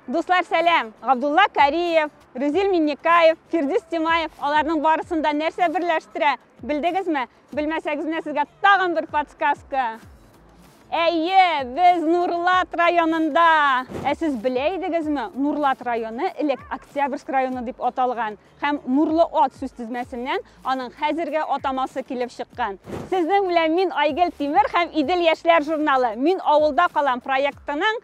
Дуслар, сәлам! Габдулла Кариев, Рүзил Миннекаев, Фирдис Тимаев, аларның барысын да нәрсә берләштерә? Белдегезме? Белмәсәгез, менә сезгә тагын бер подсказка. Әйе, без Нурлат районында. Ә сез белә идегезме, Нурлат районы элек Октябрьск районы дип аталган һәм Нурлы ат сүз тезмәсеннән аның хәзерге атамасы килеп чыккан. Сезнең белән мин Айгел Тимер һәм Идел яшьләр журналы Мин авылда калам проектының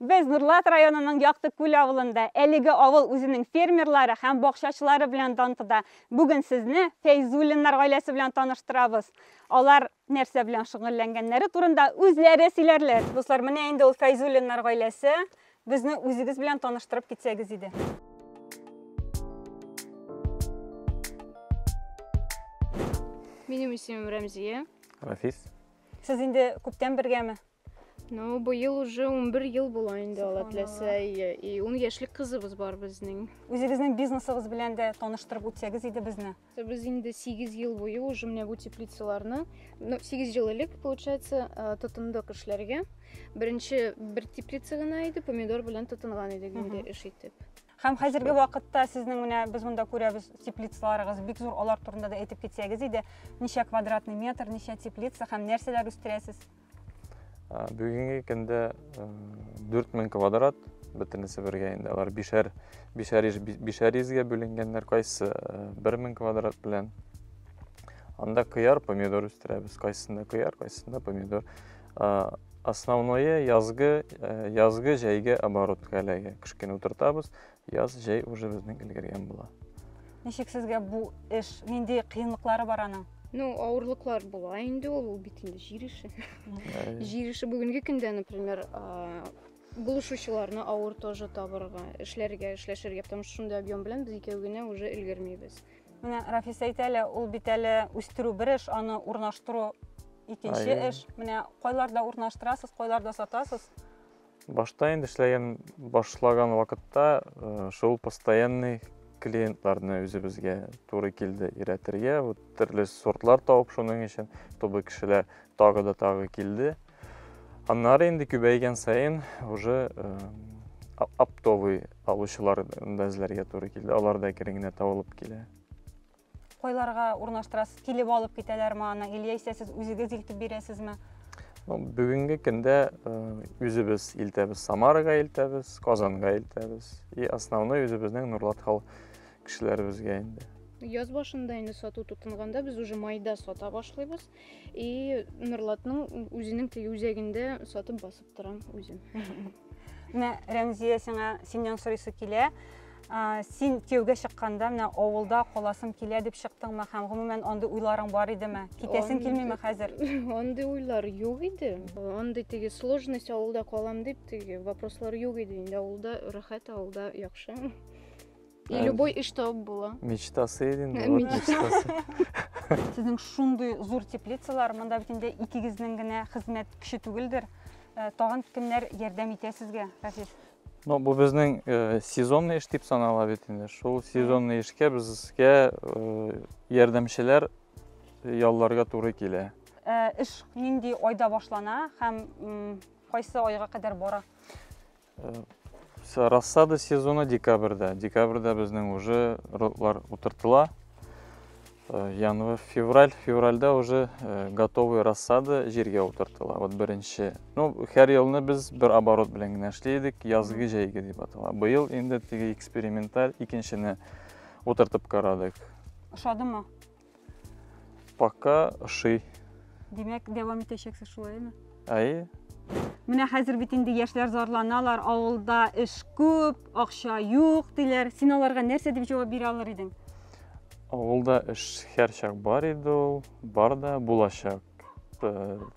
Без Нурлат районының Яктыкүл авылында. Әлеге авыл үзенең фермерлары һәм бакчачылары белән дан тота. Бүген сезне Фәйзуллиннар гаиләсе белән таныштырабыз. Алар нәрсә белән шөгыльләнгәннәре турында үзләре сөйләрләр. Дуслар, менә инде ул Фәйзуллиннар гаиләсе. Безне үзегез белән таныштырып китсәгез иде. Минем исемем Рәмзия. Рафис. Сез инде күптән бергәме? Ну, бу ел уже 11 ел була инде алла теләсә и 10 яшьлек кызыбыз бар безнең. Үзегезнең бизнесыгыз белән дә таныштырып үтсәгез иде безне. Без инде 8 ел буе уже менә бу теплицаларны, ну 8 ел элек получается, э, тотындык эшләргә. Беренче бер теплица гына иде, помидор белән тотынган идек инде эш итеп. Һәм хәзерге вакытта сезнең менә без монда күрәбез теплицаларыгыз бик зур, алар турында да әйтеп китсәгез иде. Ничә квадратный метр, ничә теплица һәм нәрсәләр үстерәсез? бүгенге көндә 4000 квадрат бөтенесе бергә инде алар бишәр бишәр бишәр изгә бүленгәннәр кайсы 1000 квадрат белән анда кыяр помидор үстерәбез кайсында кыяр кайсында помидор основное язгы язгы җәйге оборотка эләгә кышкыны утыртабыз Яз, җәй уже безнең өлгергән була. Ничек сезгә бу эш? Нинди кыенлыклары бар аның? Ну, авырлыклар була инде ул, ул бит инде җир эше. Җир эше бүгенге көндә, например, булышучыларны авыр тоже табырга, эшләргә, эшләшергә, потому что шундый объем белән без икәү генә уже өлгермибез. Менә Рафис әйтә әле, ул бит әле үстерү бер эш, аны урнаштыру икенче эш. Менә кайларда урнаштырасыз, кайларда сатасыз? Башта инде эшләгән башлаган вакытта шул постоянный клиентларны үзебезгә туры килде өйрәтергә. Вот төрле сортлар табып шуның өчен тобы кешеләр тагы да тагы килде. Аннары инде күбәйгән саен уже оптовый алучылар да эзләргә туры килде. Алар да кереңне табылып килә. Кайларга урнаштырасыз? Килеп алып китәләрме аны? Или яисә сез үзегез илтеп бирәсезме? Ну, бүгенге көндә үзебез илтәбез, Самарага илтәбез, Казанга илтәбез. И основной үзебезнең Нурлат хал кешеләребезгә инде. Яз башында инде сату тотынганда без уже майда сата башлыйбыз. И Нурлатның үзенең теге үзәгендә сатып басып торам үзем. Менә Рәмзия сиңа синнән сорыйсы килә. Син кияүгә чыкканда менә авылда каласың килә дип чыктыңмы һәм гомумән андый уйларың бар идеме? Китәсең килмиме хәзер? Андый уйлар юк иде. Андый теге сложность авылда калам дип теге вопрослар юк иде. Инде авылда рәхәт, авылда яхшы. И любой и что было. Мечтасы еден. Мечтасы. Сезнең шундый зур теплицалар, монда бит инде икегезнең генә хезмәт көче түгелдер. Э, тагын кемнәр ярдәм итә сезгә, Рафис? Ну, бу безнең э, сезонный эш дип санала бит инде. Шул сезонный эшкә безгә э, ярдәмчеләр ялларга туры килә. Эш нинди айда башлана һәм кайсы айга кадәр бара? Рассада сезоны декабрьдә. Декабрьдә безнең уже родлар утыртыла. Э, январь, февраль, февральдә уже э, готовый рассада җиргә утыртыла. Вот беренче. Ну, һәр елны без бер оборот белән генә эшли идек, язгы җәйге дип атала. Быел инде теге эксперименталь икенчене утыртып карадык. Ошадымы? Пока ошый. Димәк, дәвам итәчәксез шулаймы? Әйе. Менә хәзер бит инде яшьләр зарланалар, авылда эш күп, акча юк диләр. Син аларга нәрсә дип җавап бирә алыр идең? Авылда эш һәрчак бар иде ул, бар да булачак. Э,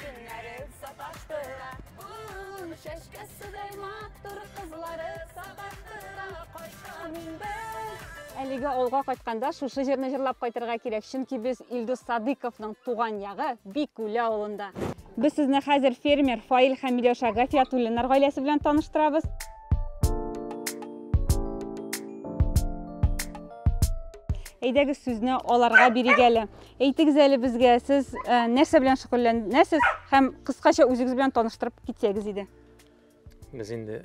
Көннәре саташтыра, ул чәчкәседәй матур кызлары саташтыра, кайткан инде. Әлеге авылга кайтканда шушы җырны җырлап кайтырга кирәк, чөнки без Илдус Садыковның туган ягы Бикүле авылында. Без сезне хәзер фермер Фаил һәм Миләүшә Гафиятуллиннар гаиләсе белән таныштырабыз. Әйдәгез сүзне аларга бирик әле. Әйтегез әле безгә, сез э, нәрсә белән шөгыльләнәсез һәм кыскача үзегез белән таныштырып китсәгез иде. Без инде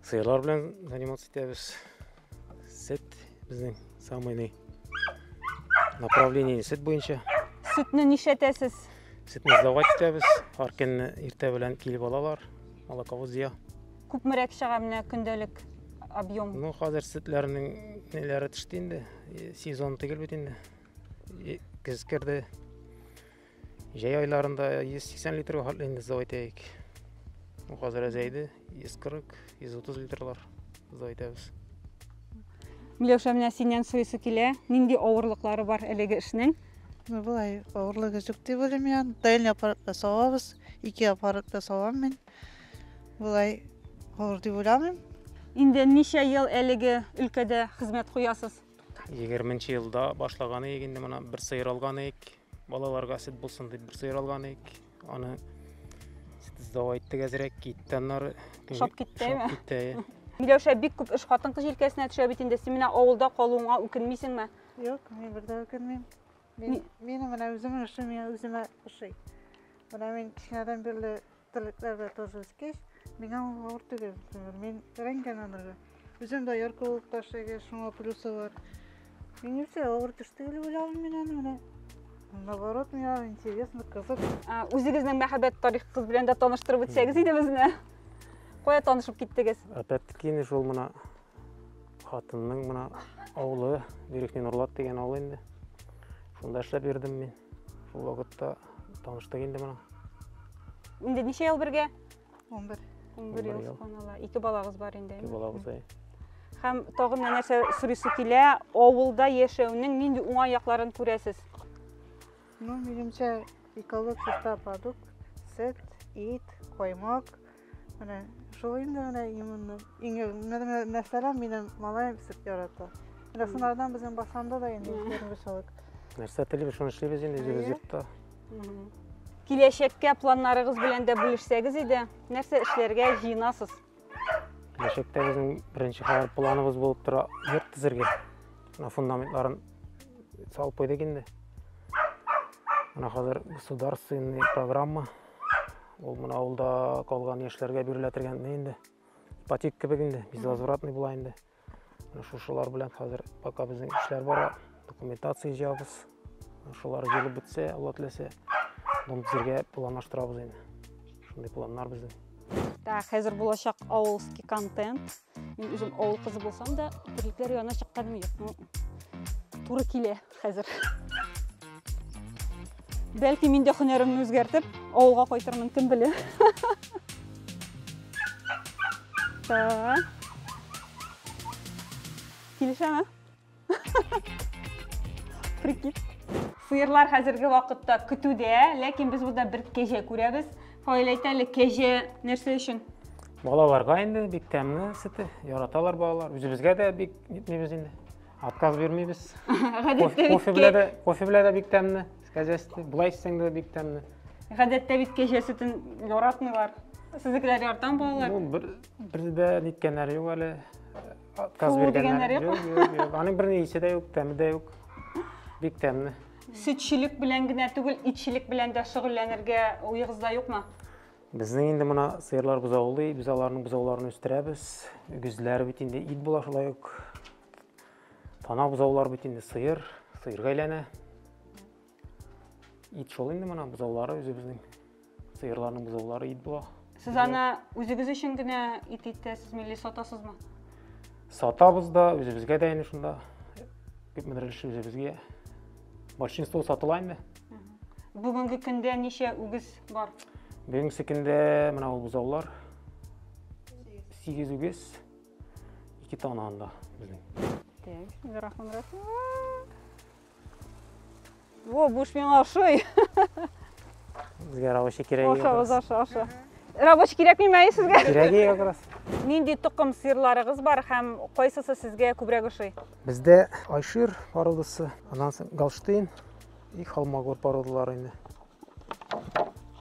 сыерлар белән заниматься итәбез. Сет безнең самый направление сет буенча. Сөтне нишәтәсез? Сөтне сдавать итәбез. Һәр көнне иртә белән килеп алалар. Алакавыз зыя. Күпмерәк чыга менә көндәлек объем? Ну, хәзер сөтләрнең неләре төште инде. Сезон тигел бит инде. Көз керде. Җәй айларында 180 литрга хатлыйбыз дип әйтәйек. Хәзер әзәйде 140, 130 литрлар дип әйтәбез. Миләүшә, менә синнән сойысы килә. Нинди авырлыклары бар әлеге эшнең? Ну, болай авырлыгы юк дип уйлыйм мин. Дәлне аппаратта савабыз. Ике аппаратта савам мин. Болай авыр дип уйламыйм. Инде ничә ел әлеге өлкәдә хезмәт куясыз? 20 елда башлаган идек инде моны бер сыер алган идек балаларга сөт булсын дип бер сыер алган идек аны сдавай иттек әзрәк китте аннары шап киттеме китте миләүшә бик күп эш хатын кыз җилкәсенә төшә бит инде син менә авылда калуыңа үкенмисеңме юк мин бердә үкенмим Мин, минем менә үземнең эшем миңа үземә ошый. Менә мин кечкенәдән бирле терлекләр белән тоже үскәч, миңа ул авыр түгел. Например, мин өйрәнгән анырга. Үзем дә яркы булып ташлыйм, шуңа плюсы бар. Мин үзе авыр төш түгел уйлавым мин аны менә. Наоборот, миңа интересно, кызык. А, үзегезнең мәхәббәт тарихыгыз белән дә таныштырып үтсәгез иде безне. Кая танышып киттегез? Опять-таки, шул мына Хатынның мына авылы Верхний Нурлат дигән авыл инде. Шунда эшләп йөрдем мин. Шул вакытта таныштык инде моның. Инде ничә ел бергә? 11. 11 ел, субханалла. Ике балагыз бар инде. Ике балагыз, әй. Һәм тагын нәрсә сорыйсы килә, авылда яшәүнең нинди уңай якларын күрәсез? Ну, минемчә, эколог чиста продукт, сет, ит, коймак. Менә шул инде менә именно. Иң менә мәсәлән, минем малаем сет ярата. Менә сынардан безнең басанда да инде күренеш алык. Нәрсә телибез, шуны эшлибез инде үзебез йортта. Киләчәккә планнарыгыз белән дә бүлешсәгез иде. Нәрсә эшләргә җыенасыз? киләчәктә безнең беренче хәбәр планыбыз булып тора йорт төзергә мына фундаментларын салып куйдык инде мына хәзер государственный программа ул мына авылда калган яшьләргә бирелә торган инде ипотека кебек инде безвозвратный була инде Шушылар белән хәзер пока безнең эшләр бара. Документация җыябыз. Шулар җыелып бетсә, Алла теләсә, дом төзергә планлаштырабыз инде. Шундый планнар безнең. Так, хәзер булачак авылский контент. Мин үзем авыл кызы булсам да, терлекләр янына чыкканым юк. Ну, туры килә. Хәзер. Бәлки мин дә һөнәремне үзгәртеп, авылга кайтырмын, кем белә. Так. Килешәме? Прикид. Сыерлар хәзерге вакытта көтүдә, ләкин без монда бер кәҗә күрәбез. Фаил әйтә әле, кәҗә нәрсә өчен? Балаларга инде бик тәмле сөте, яраталар балалар. Үзебезгә дә бик нитмибез инде. Отказ бирмибез. Гадәттә бит Кофе белән дә, кофе белән дә бик тәмле. Кәҗәсте. Болай эчсәң дә бик тәмле. Гадәттә бит кәҗә сөтен яратмыйлар. Сезнекеләр яртан балалар. Ну, бер бер дә ниткәннәр юк әле. Отказ Фу, дигәннәр юк. Юк, юк, юк. Аның бер ни исе дә юк, тәме дә юк. Бик тәмле. Сөтчелек белән генә түгел, итчелек белән дә шөгыльләнергә уегызда юкмы? Безнең инде мына сыерлар бозаулый, без аларның бозауларын үстерәбез. Үгезләр бит инде ит була шулай ук. Тана бозаулар бит инде сыер, сыерга әйләнә. Ит шул инде мына бозаулары үзебезнең. Сыерларның бозаулары ит була. Сез аны үзегез өчен генә ит итәсез, милли сатасызмы? Сатабыз да, үзебезгә дә инде шунда. Күпмедер өлешен үзебезгә. Большинство сатыла инде. Бүгенге көндә ничә үгез бар? Бүгенге көндә менә ул бозаулар. 8 үгез. 2 тана анда безнең. Так, инде рахман рахман. Во, буш миңа ошый. Безгә рабочий кирәк. Аша, аша, аша. Рабочий кирәкми мәй сезгә? Кирәк ие как раз. Нинди тукым сыерларыгыз бар һәм кайсысы сезгә күбрәк ошый? Бездә Айшир пародасы, аннан соң Галштейн, И холмогор породалары инде.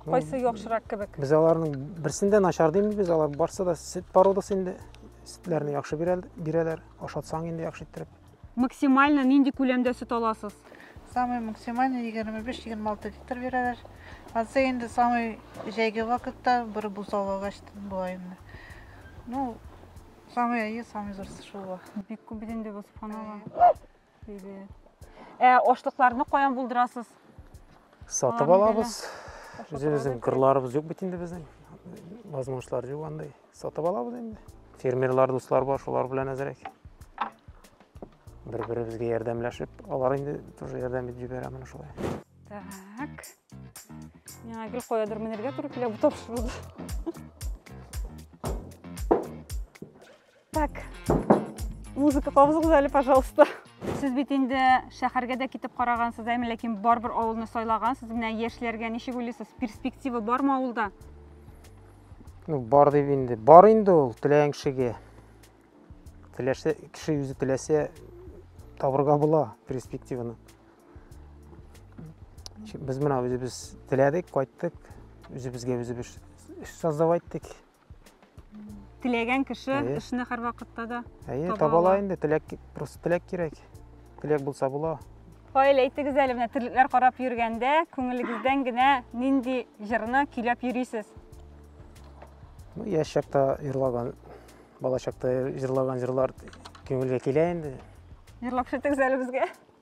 Кайсы яхшырак кебек? Без аларның берсендә начар димбез, без алар барсы да сөт породасы инде. Сөтләрне яхшы бирәләр, ашатсаң инде яхшы иттереп. Максимально нинди күләмдә сөт аласыз? Самый максимально 25-26 литр бирәләр. Азы инде самый җәйге вакытта бер бу салагач була инде. Ну, самый әйе, самый зурсы шул. Бик күп инде бу сыпанала. Ә ашлыкларны каян булдырасыз? Сатып алабыз. Үзебезнең кырларыбыз юк бит инде безнең. Возможностьлар юк андай. Сатып алабыз инде. Фермерлар дуслар бар, шулар белән әзрәк. Бер-беребезгә ярдәмләшеп, алар инде тоже ярдәм итеп җибәрә менә шулай. Так. Миңа гел каядыр менергә туры килә бу тапшыруды. Так, музыка кабызыгыз әле, пожалуйста. Сез бит инде шәһәргә дә китеп карагансыз, әмма ләкин барбер авылны сайлагансыз. Менә яшьләргә ничек уйлыйсыз, перспектива бармы авылда? Ну, бар дип инде. Бар инде ул теләгән кешегә. Теләшә кеше үзе теләсә табырга була перспективаны. Без менә үзебез теләдек, кайттык. Үзебезгә үзебез создавать иттек. Теләгән кеше Әйе. эшне һәрвакытта да Әйе, Таба таба ала ала. инде, теләк, ки- просто теләк кирәк. Теләк булса була. Фаил, әйтегез әле менә терлекләр карап йөргәндә, күңелегездән генә нинди җырны көйләп йөрисез? Ну, яшь чакта җырлаган, бала чакта җырлаган җырлар күңелгә килә инде. Җырлап шетегез әле безгә.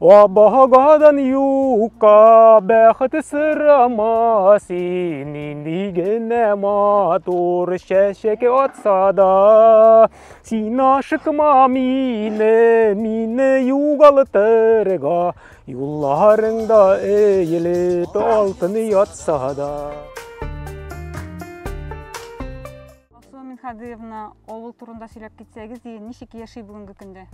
Абагадан юкка бәхет сырама син Нинди генә матур чәчәк атса да Син ашыкма мине, мине югалтырга Юлларыңда эелеп алтын ятса да Алсу Минхадыевна, авыл турында сөйләп китсәгез, ничек яши бүгенге көндә?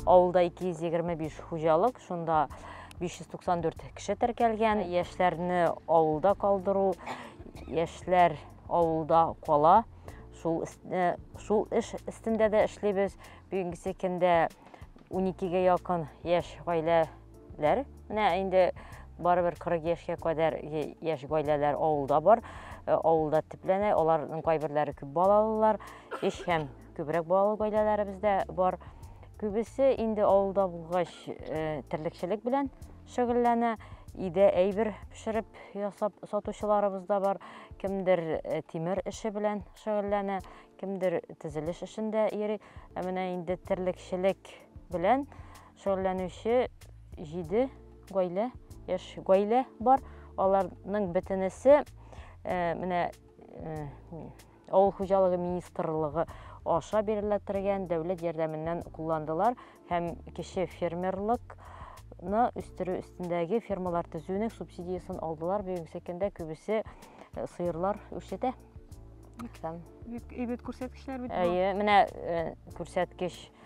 Авылда 225 хуҗалык, шунда 594 кеше теркәлгән. Яшьләрне авылда калдыру, яшьләр авылда кала. Шул, э, шул эш өстендә дә эшлибез. Бүгенгесе көндә 12-гә якын яшь гаилә Ләр. Менә инде барыбер 40 яшькә кадәр яшь гаиләләр авылда бар. Э, авылда төпләнә, аларның кайберләре күп балалылар, эш һәм күбрәк балалы гаиләләребез дә бар. Күбесе инде авылда булгач э, терлекчелек белән шөгыльләнә. Иде әйбер пешереп ясап сатучыларыбыз да бар. Кемдер э, тимер эше белән шөгыльләнә, кемдер тезелеш эшендә йөри. Ә менә инде терлекчелек белән Шөгыльләнүче җиде гаилә, яшь гаилә бар. Аларның бөтенесе менә авыл хуҗалыгы министрлыгы аша бирелә торган дәүләт ярдәменнән кулландылар һәм кече фермерлык ны үстерү өстендәге фермалар төзүнең субсидиясен алдылар. Бүгенге көндә күбесе э, сыерлар үрчетә. Бик әйбәт күрсәткечләр бит. Әйе, менә э, күрсәткеч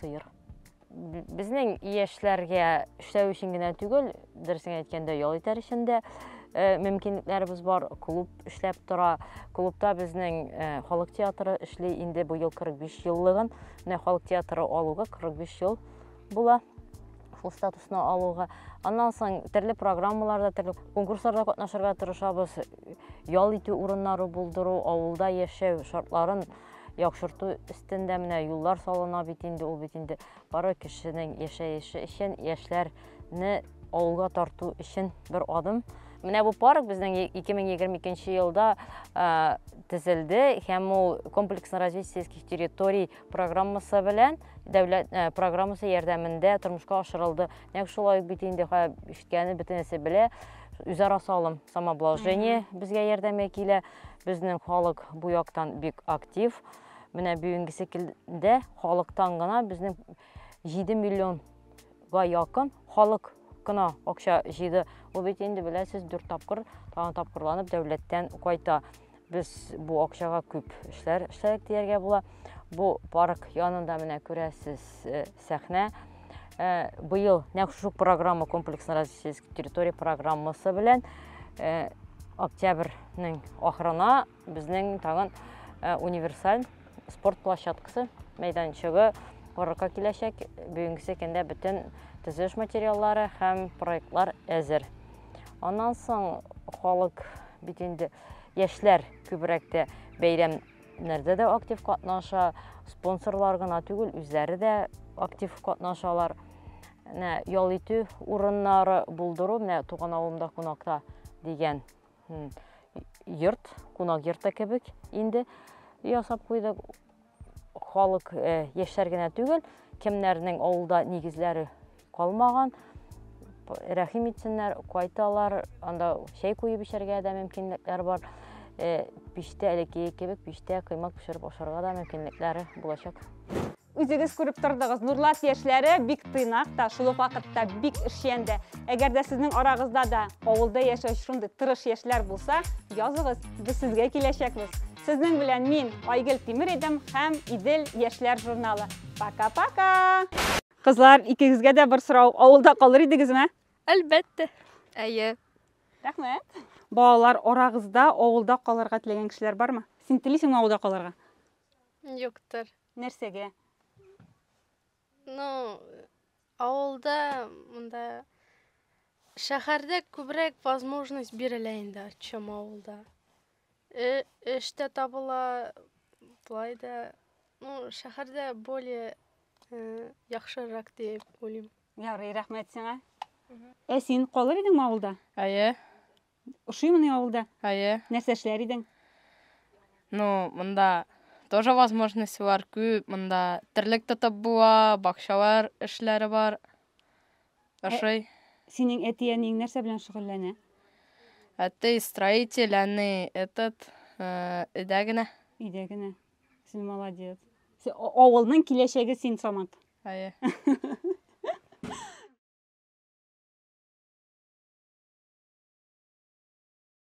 сыер. Безнең яшьләргә эшләү өчен генә түгел, дөресен әйткәндә, ял итәр өчен дә э, мөмкинлекләребез бар. Клуб эшләп тора. Клубта безнең э, халык театры эшли. Инде бу ел 45 еллыгын менә халык театры алуга 45 ел була шул статусны алуга. Аннан соң төрле программаларда, төрле конкурсларда катнашырга тырышабыз. Ял итү урыннары булдыру, авылда яшәү шартларын Яхшырту өстендә менә юллар салына бит инде, ул бит инде бары кешенең яшәеше өчен, яшьләрне авылга тарту өчен бер адым. Менә бу парк безнең 2022 елда төзелде һәм ул комплексно развитие сельских территорий программасы белән дәүләт э, программасы ярдәмендә тормышка ашырылды. Нәкъ шулай ук бит инде ишеткәне бөтенесе белә, үзара салым самообложение безгә ярдәмгә килә. Безнең халык бу яктан бик актив. Менә бүгенгесе килдә халыктан гына безнең 7 миллионга якын халык кына акча җыйды. Бу бит инде беләсез 4 тапкыр тагын тапкырланып дәүләттән кайта. Без бу акчага күп эшләр эшләдек дияргә була. Бу парк янында менә күрәсез э, сәхнә. Э, быел нәкъ шушы программа комплексно развития сельской территории программасы белән э, октябрьнең ахырына безнең тагын э, универсаль спорт площадкасы мәйданчыгы корырга киләчәк бүгенгесе көндә бөтен төзелеш материаллары һәм проектлар әзер аннан соң халык бит инде яшьләр күбрәк тә бәйрәм нәрдә дә актив катнаша, спонсорлар гына түгел, үзләре дә актив катнашалар. Менә ял итү урыннары булдыру, менә туган авылымда кунакта дигән йорт, кунак йорты кебек инде ясап куйдык. Халык яшьләр генә түгел, кемнәрнең авылда нигезләре калмаган. Рәхим итсеннәр, кайталар, анда чәй куеп эчәргә дә мөмкинлекләр бар. Э, пиштә элеккеге кебек пиштә кыймак пешереп ашарга да мөмкинлекләре булачак. Үзегез күреп тордыгыз, Нурлат яшьләре бик тыйнак та, шул ук вакытта бик эшчән дә. Әгәр дә сезнең арагызда да авылда яшәүче шундый тырыш яшьләр булса, языгыз, без сезгә киләчәкбез. Сезнең белән мин Айгөл Тимер идем һәм Идел яшьләр журналы. Пока-пока! Кызлар, икегезгә дә бер сорау. Авылда калыр идегезме? Әлбәттә. Әйе. Рәхмәт. Балалар, арагызда авылда калырга теләгән кешеләр бармы? Син телисеңме авылда калырга? Юктыр. Нәрсәгә? Ну, авылда монда шәһәрдә күбрәк возможность бирелә инде, чем авылда. Эш тә табыла, болай да. Ну, шәһәрдә более яхшырак дип уйлыйм. Ярый, рәхмәт сиңа. Ә син калыр идеңме авылда? Әйе. Ошыймыни авылда? Әйе. Нәрсә эшләр идең? Ну, монда тоже возможность бар, күп. Монда терлек тотып була, бакчалар эшләре бар. Ашый. Синең әти-әниең нәрсә белән шөгыльләнә? Әти строитель, әни этот өйдә генә. Өйдә генә. Син молодец. Авылның киләчәге син, Самат. Әйе.